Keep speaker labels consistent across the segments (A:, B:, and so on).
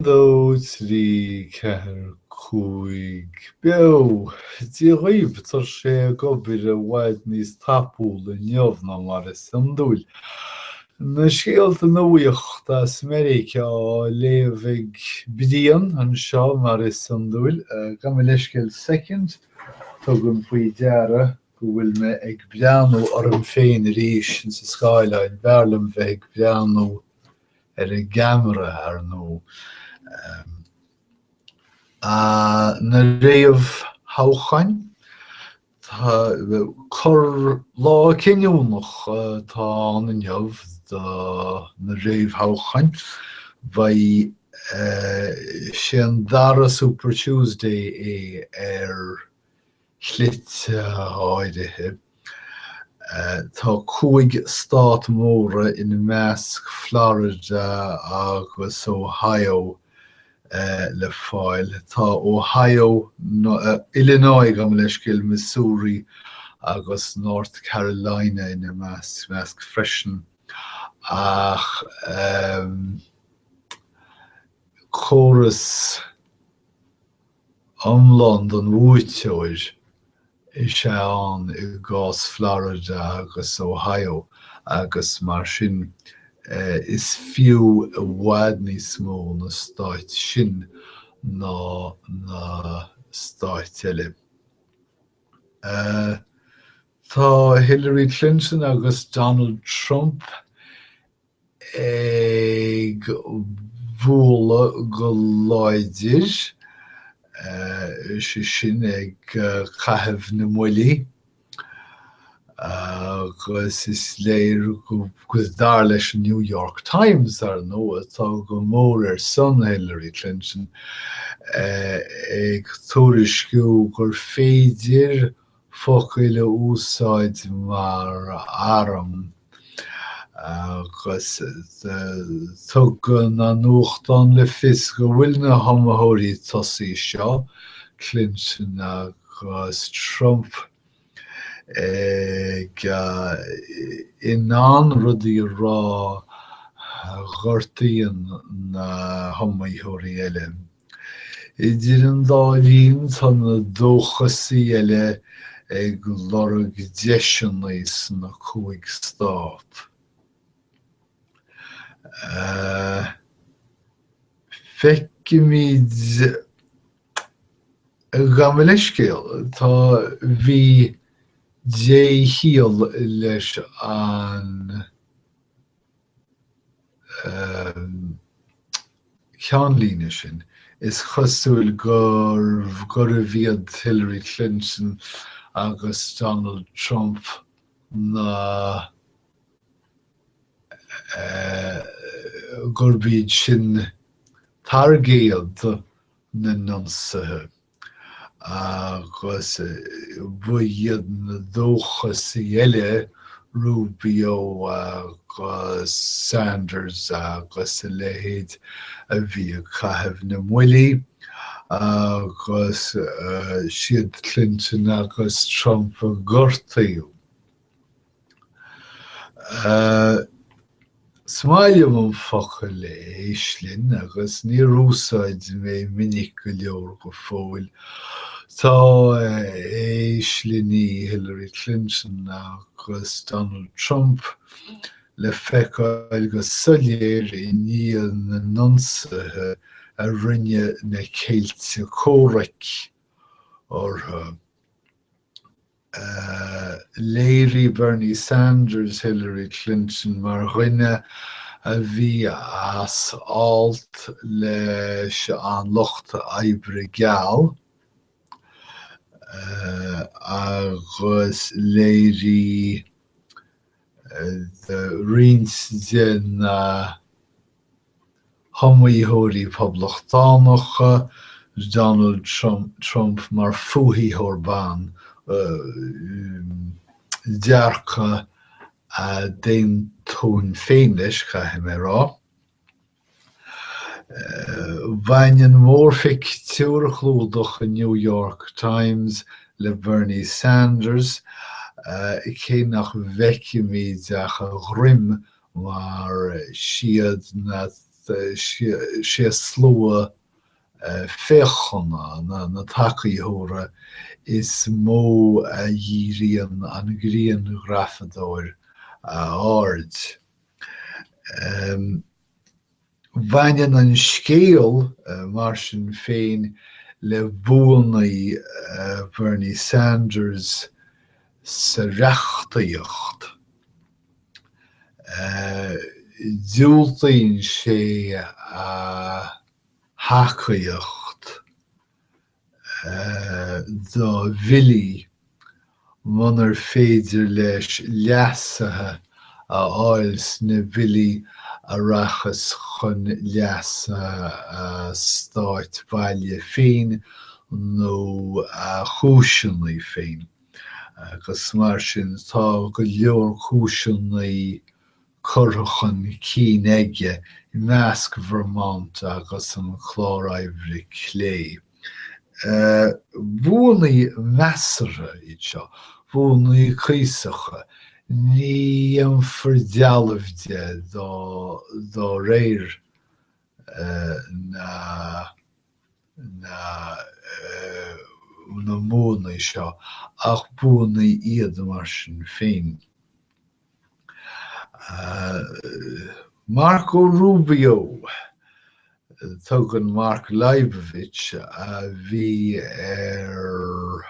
A: dó trí ceathair cúig beo. Dia dhaoibh! Tá sé ag obair i bhfad níos tapúla inniu ná mar is iondúil. Na scéalta nuachta as Meiriceá á léamh ag Brian anseo mar is iondúil. Gabh mo leithscéal soicind, tugaim faoi deara go bhfuil mé ag breathnú orm féin arís ins an scáileáin, b'fhearr liom bheith ag breathnú ar an gceamara, ar ndóigh. Na réamhthoghcháin, tá cur, lá cinniúnach atá ann inniu do na réamhthoghcháin. Beidh sé, an dara Super Tuesday é ar. shlite áirithe. Tá cúig stát móra, ina measc Florida agus Ohio, le fáil. Tá Ohio, Illinois, gabh mo leithscéal, Missouri agus North Carolina ina measc freisin, ach córas. iomlán don bhuaiteoir is ea atá ann i gcás Florida agus Ohio agus mar sin is fiú i bhfad níos mó na stáit sin ná na stáit eile. Tá Hillary Clinton agus Donald Trump ag bualadh go láidir, sé sin ag caitheamh na mbuillí, agus is léir go, dar leis an New York Times, ar ndóigh, atá go mór ar son Hillary Clinton, ag tuairisciú gur féidir focail a úsáid mar arm agus tugann an nuachtán le fios go bhfuil na hiomaitheoirí tosaigh seo, Clinton agus Trump, ag, in ann rudaí a rá a ghortaíonn na hiomaitheoirí eile. Idir an dá linn tá na dóchasaí eile ag lorg deiseanna sna cúig stát. Feicimid, gabh mo leithscéal. Tá bhí dé-chiall leis an. cheannlíne sin, is cosúil gurbh iad Hillary Clinton agus Donald Trump na gurb iad sin targaidí na n-ionsaithe. Agus ba iad na dóchasaigh eile, Rubio agus Sanders agus a leithéid, a bhí ag caitheamh na mbuillí. Agus is iad Clinton agus Trump a gortaíodh. Is maith liom an focal éislinn agus níor úsáid mé minic go leor go fóill. Tá éislinní Hillary Clinton agus Donald Trump le feiceáil go soiléir i ndiaidh na n-ionsaithe a rinne na céilí comhraic orthu. Léirigh Bernie Sanders Hillary Clinton mar dhuine a bhí as alt leis an Lucht Oibre geal, agus léirigh roinnt de na hiomaitheoirí poblachtánacha, Donald Trump mar fhuathaitheoir ban, dearcadh a n-aontaím féin leis, caithfidh mé a rá. Baineann mórphictiúr chlúdach an New York Times le Bernie Sanders, cé nach bhfeicimid ach a dhroim mar is iad na sé slua féachana, na tacaitheoirí, is mó a ndíríonn an grianghrafadóir a aird. Baineann an scéal, mar sin féin, le buanna Bhernie Sanders sa reachtaíocht. Diúltaíonn sé a thacaíocht do bhillí, munar féidir leis leasuithe a fháil sna billí a rachas chun leasa a stáit bhaile féin nó a chúiseannaí féin, agus mar sin tá go leor cúiseannaí curtha chun cinn aige i leasc Vermont agus an Clár Oibre Clé. Buanna measartha iad seo, buanna cuíosacha, ní dhéanfar dealbh de de réir na mbuanna seo, ach buanna iad mar sin féin. Marco Rubio, tugann Mark Leibovich, a bhí ar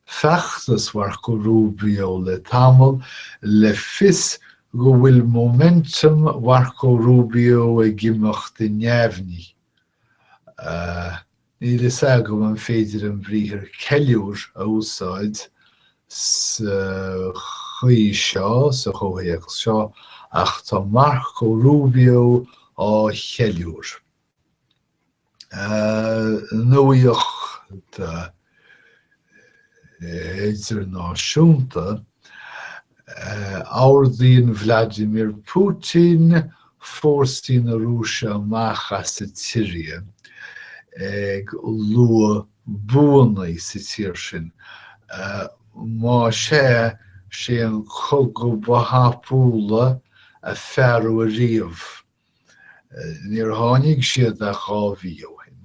A: feachtas Mharco Rubio le tamall, le fios go bhfuil momentum Mharco Rubio ag imeacht i neamhní. Níl a fhios agam an féidir an briathar 'ceiliúir' a úsáid sa chaoi seo, sa chomhthéacs seo, ach tá Marco Rubio ag ceiliúradh. Nuaíocht! idirnáisiúnta, ordaíonn Vladimir Putin fórsaí na Rúise amach as an tSiria, ag lua buanna sa tír sin. Más ea, is é an cogadh ba thapúla a fearadh ariamh. Níor tháinig siad ach dhá mhí ó shin,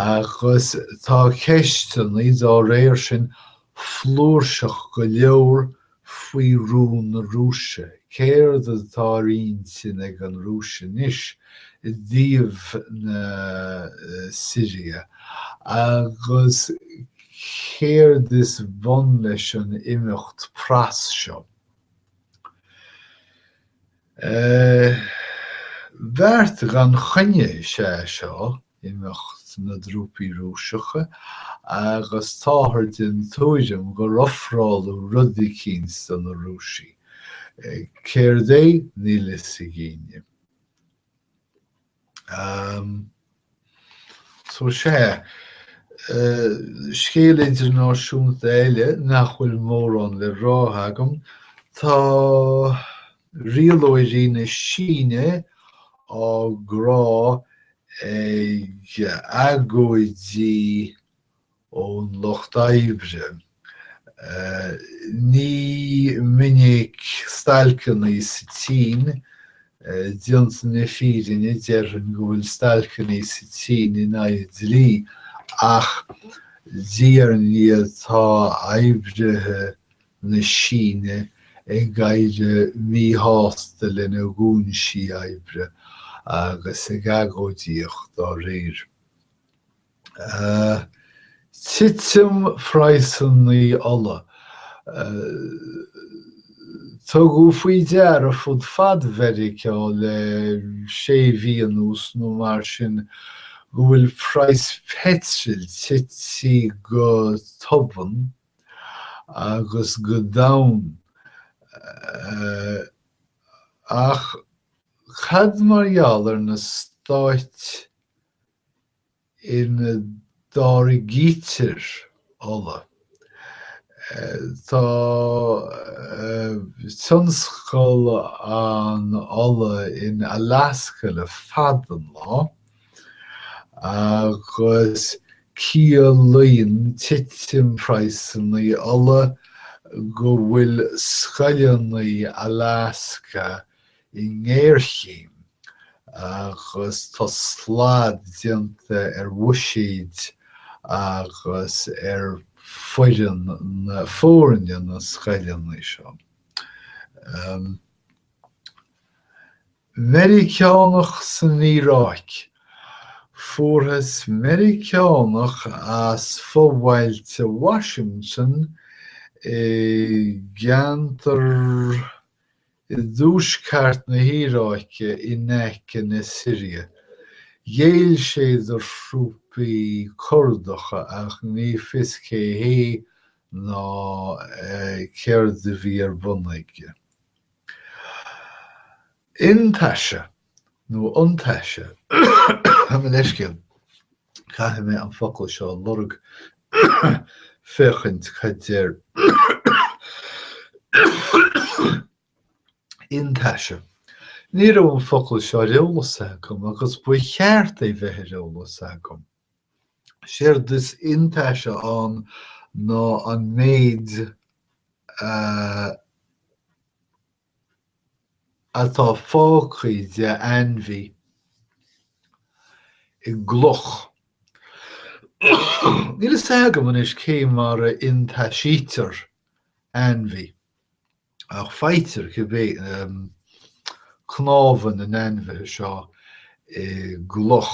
A: agus tá ceisteanna dá réir sin flúirseach go leor faoi rún na Rúise, céard atá ar intinn ag an Rúis anois i dtaobh na Siria, agus céard is bun leis an imeacht pras seo. Beart gan choinne is ea seo, imeacht na dtrúpaí Rúiseacha, agus táthar den tuairim gur ofráladh rud eicínt do na Rúisigh. Céard é? Níl a fhios ag éinne. Ehm. So sea, scéal idirnáisiúnta eile nach bhfuil mórán le rá agam. Tá rialóirí na Síne á gcrá ag agóidí ón lucht oibre. Ní minic stailceanna sa tSín, déanta na fírinne déarfainn go bhfuil stailceanna sa tSín in aghaidh an dlí, ach diaidh ar ndiaidh tá oibrithe na Síne ag éirí míshásta lena gcúinsí oibre agus ag agóidíocht dá réir. Titim phraghsannaí ola. Tugadh faoi deara fud fad Mheiriceá le sé mhí anuas nó mar sin go bhfuil praghas peitril titithe go tobann agus go domhain. Ach cad mar gheall ar na Stáit? ina dtáirgítear ola. Tá tionscal an ola in Alasca le fada an lá agus ciallaíonn titim praghsannaí ola go bhfuil scoileannaí Alasca i ngéarchéim agus tá slad déanta ar bhuiséid agus ar foireann na foirne na scoileannaí seo. Meiriceánach san Iaráic. Fuarthas Meiriceánach as fobhailte Washington i gceantar. i dtuaisceart na hIaráice in aice na Siria. Ghéill sé do thrúpaí Curdacha ach ní fios cé hé ná céard a bhí ar bun aige. Iontaise, nó iontaise, gabh mo leithscéal. Caithfidh mé an focal seo a lorg féachaint cad deir iontaise. Ní raibh an focal seo ar eolas agam agus ba cheart é bheith ar eolas agam. Séard is iontaise ann ná an méid a. atá fágtha de ainmhí i gcloch. Níl fhios agam anois cé mar a iontaisítear ainmhí, ach faightear cibé cnámha na n-ainmhithe seo i gcloch.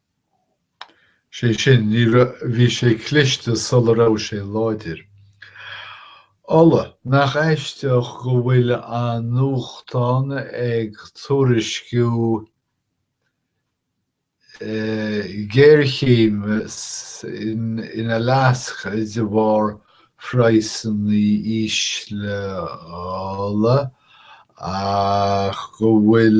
A: sé sin, bhí sé cliste sula raibh sé láidir. Ola, nach aisteach go bhfuil an nuachtán ag tuairisciú géarchéim in Alaska de bharr phraghsanna ísle ola ach go bhfuil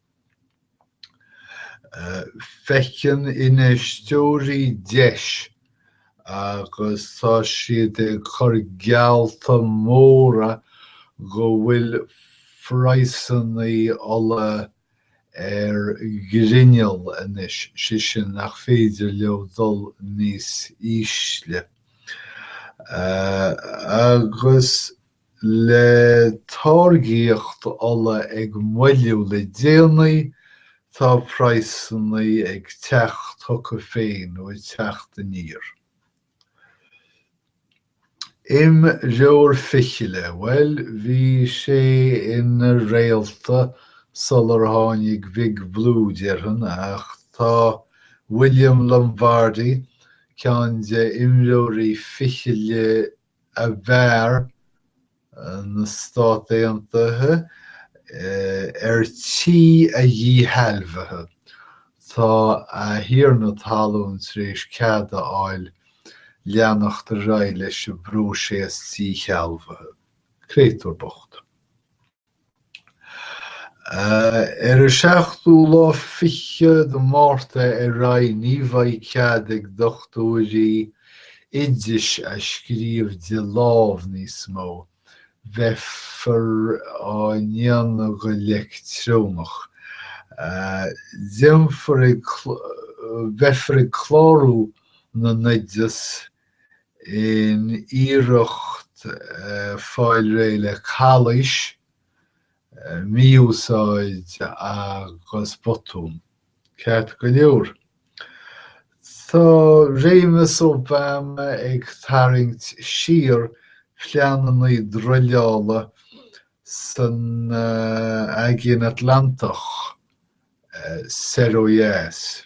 A: Feiceann infheisteoirí deis agus tá siad ag cur geallta móra go bhfuil praghsanna ola ar ghrinneall anois, sé sin nach féidir leo dul níos ísle. Agus le táirgíocht ola ag moilliú le déanaí, tá praghsanna ag teacht chucu féin, nó ag teacht aniar. Imreoir fichille, bhuel, bhí sé ina réalta sular tháinig Big Blue, déarfainn, ach tá William Lombardy, ceann de imreoirí fichille ab fhearr na Stát Aontaithe ar tí a dhíshealbhaithe. Tá a thiarna talún tar éis cead a fháil leanacht ar aghaidh leis an bpróiseas díshealbhaithe. Créatúr bocht. Ón seachtú lá fichead de Mhárta ar aghaidh ní bheidh cead ag dochtúirí oidis a scríobh de lámh níos mó, beifear á ndéanamh go leictreonach. Beifear ag, beifear ag clárú na n-oideas in iarracht fáil réidh le calaois, mí-úsáid agus botúin. Ceart go leor, tá réimeas Obama ag tarraingt siar pleananna druileála san Aigéan Atlantach soir ó dheas.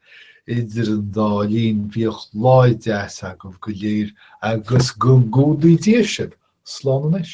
A: Idir an dá linn, bíodh lá deas agaibh go léir agus go gcumhdaí Dia sibh slán anois.